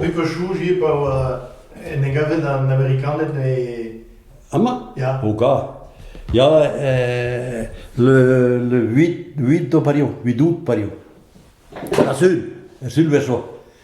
Dit 'vo soñjet pa oa en e gavet an Amerikaned e... Amañ? Ya. O ka. Ya, euh, le, le 8, 8 d'o pareoù, 8 août pareoù. Ha sul, sul 'vel zo.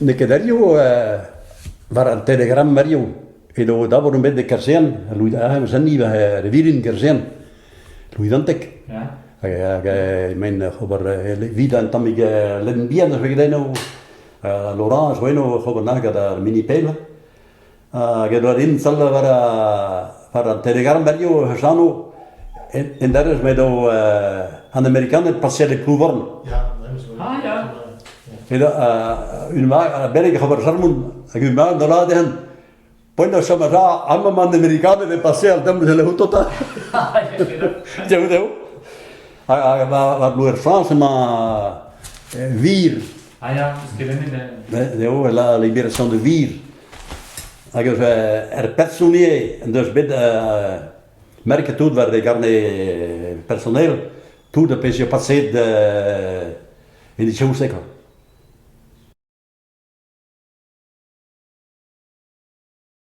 N'eo ket ariv war an Telegram ariv. Edo dabour bet e kasern, Louis-Anne war e vilin kasern, Louis-Antek. Hag emaint ober evit un tammig lenn bihan a zo gant eno. L'Orange zo eno oc'h ober nag gant ar mini-pell. Hag edo din salla war war an Telegram radio hec'h anv. En derez m'edo an Amerikaned pasiet e Plouvorn. Ah, ja. Edo un mag, a beleg c'hober Charmoun, hag un mag da laden. Poi chom a ra, amam an Amerikaned e pasé al dem de l'Autota. Teo deo. Hag war Bloer France emañ vir. Ah ja, skelenet. Deo, la libération de vir. Hag er personi en deus bet merket tout war e garne personel tout ar pezh eo paset en e chaouse kwa.